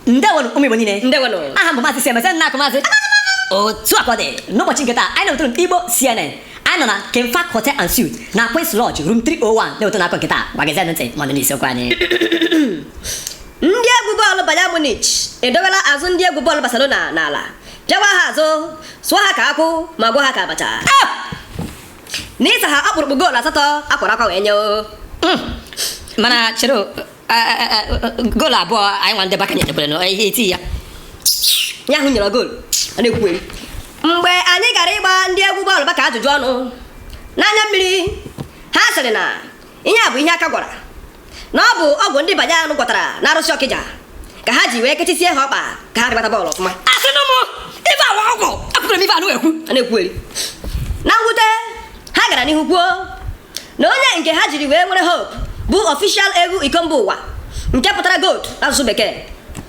ndewonụ ụmụ Igbo niile ndewonụ aha m bụ Maazị Siemese nna akụ Maazị otu a ka ọ dị n'ụbọchị nke taa anyị na-ewetara unu Igbo CNN anyị nọ na Kemfak Hotel and Suites na Queen's Lodge room 301 na-ewetara unu akụkọ nke taa ngwa geezie ntị ma ọ dị n'isiokwu anyị ndị egwu bọọlụ Bayern Munich edowela azụ ndị egwu bọọlụ Barcelona n'ala pịawa ha azụ sụọ ha ka akwụ ma gwọ ha ka abacha n'ịsa ha ọkpụrụkpụ goolu asatọ akwara akwa wee nye o hmm. mana chere goolu abụọ anyị nwa ndị Barca nyetekwere na ihe eti ya ya ahụ nyere goolu a na-ekwu mgbe anyị gara ịgba ndị egwu bọọlụ Barca ajụjụ ọnụ n'anya mmiri ha sịrị na ihe a bụ ihe aka gwara na ọ bụ ọgwụ ndị Bayern gwọtara n'arụsị Ọkịja ka ha ji wee kechisie ha ọkpa ka ha ghara ịgbata bọọlụ ọfụma asịnụ m ife a wụ ọgwụ apụtara m ife anụ ekwu a na-ekwugheri na mwute ha gara n'ihu kwuo na onye nke ha jiri wee nwere hope bụ official ewu iko mba ụwa nke pụtara goat n'asụsụ bekee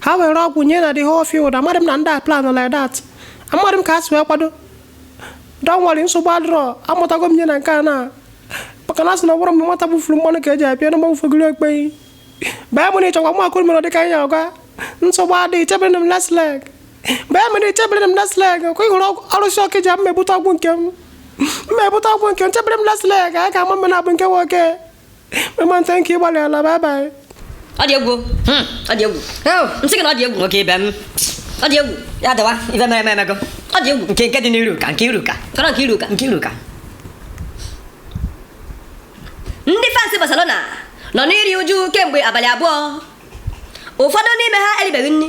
ha were ọgwụ nye na the whole field amadị m na ndị a plan like that amadị m ka ha si wee kwado don nwere nsogbu adịrọ amụtago m ihe na nke a na maka na a sị na ọ bụrọ mgbe nwata bufuru mmanụ ka e ji apịa na mgbagwụfegoro okpeyi Bayern Munich ọkwa mụ akụrụ mere dịka anyị ngwa nsogbu adịghị chebere m last leg Bayern Munich chebere m last leg ọkwa ị hụrụ arụsị Ọkịja mmebute ọgwụ nke m mmebute ọgwụ nke m chebere m last leg anyị ga-ama mbe naabọ nke wụ oke mama thank you ị gbalịala bye bye ọ dị egwu hmm. ọ dị egwu m sị gị na ọ dị egwu nwoke ibe m ọ dị egwu ya dịwa ife mere mere emego ọ dị egwu nke nke dị n'iru ka nke iru ka kọrọ nke iru ka nke iru ka ndị fans Barcelona nọ n'iri uju kemgbe abalị abụọ ụfọdụ n'ime ha eribeghị nri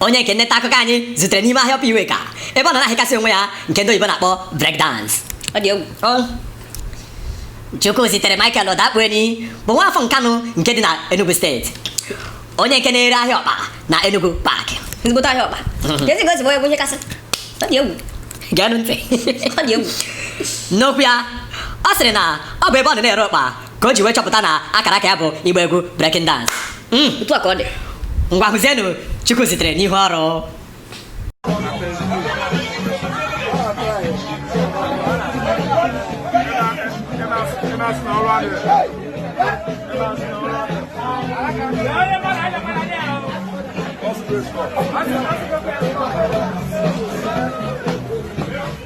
onye nke nneta akụkọ anyị zutere n'ime ahịa Upper Iweka ebe ọ nọ na-ahịkasị onwe ya nke ndị oyibo na-akpọ break dance ọ dị egwu Chukwuzitere Michael Odakpuenyi bụ nwa afọ Nkanụ nke dị na Enugu steeti onye nke na-ere ahịa ọkpa na Enugu Park ezigbote ahịa ọkpa ezi gosi bụ egwu ihe kasị ọ dị egwu geenụ ntị ọ dị egwu n'okwu ya ọ sịrị na ọ bụ ebe ọ nọ na-ere ọkpa ka o ji wee chọpụta na akara aka ya bụ ịgba egwu breaking dance Mm, otu a ka ọ dị ngwa hụzienụ Chukwuzitere n'ihu ọrụ Thank you.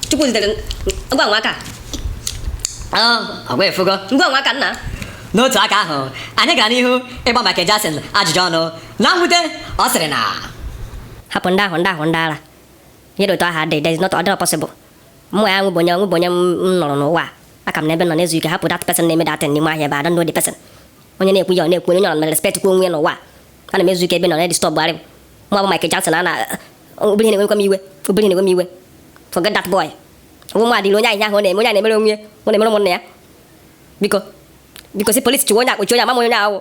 chukwu zitere ngwa nwa aka ọgwa efugo ngwa nwa aka nna n'otu aka ahụ anyị gara n'ihu ịgba Michael Jackson ajụjụ ọnụ na mwute ọ sịrị na hapụ ndị ahụ ndị ahụ ndị ara ihe dị otu ahụ adịghị there is not ọ dịrọ possible Mmụọ ya nwụbụ onye nwụbụ onye m nọrọ n'ụwa a. Aka m nọ ebe m nọ na-ezu ike hapụ that person na-eme that thing n'ime ahịa ebe I don't know the person. Onye na-ekwu ya ọ na-ekwu onye ọ na respect kwa onwe ya n'ụwa a. Ana m ezu ike ebe a ọ na-edistọbụ arị m. Mụ a bụ Michael Jackson a na obere ihe na-ewekwa m iwe obere ihe na-ewe m iwe. Forget that boy. Ọ wụ mụ adịrị onye ahụ ihe ahụ ọ na-eme onye a na-emere onwe ya ọ na-emere ụmụnna ya. Biko biko si polisi chụwa onye a kpọchie onye ama m onye ahụ.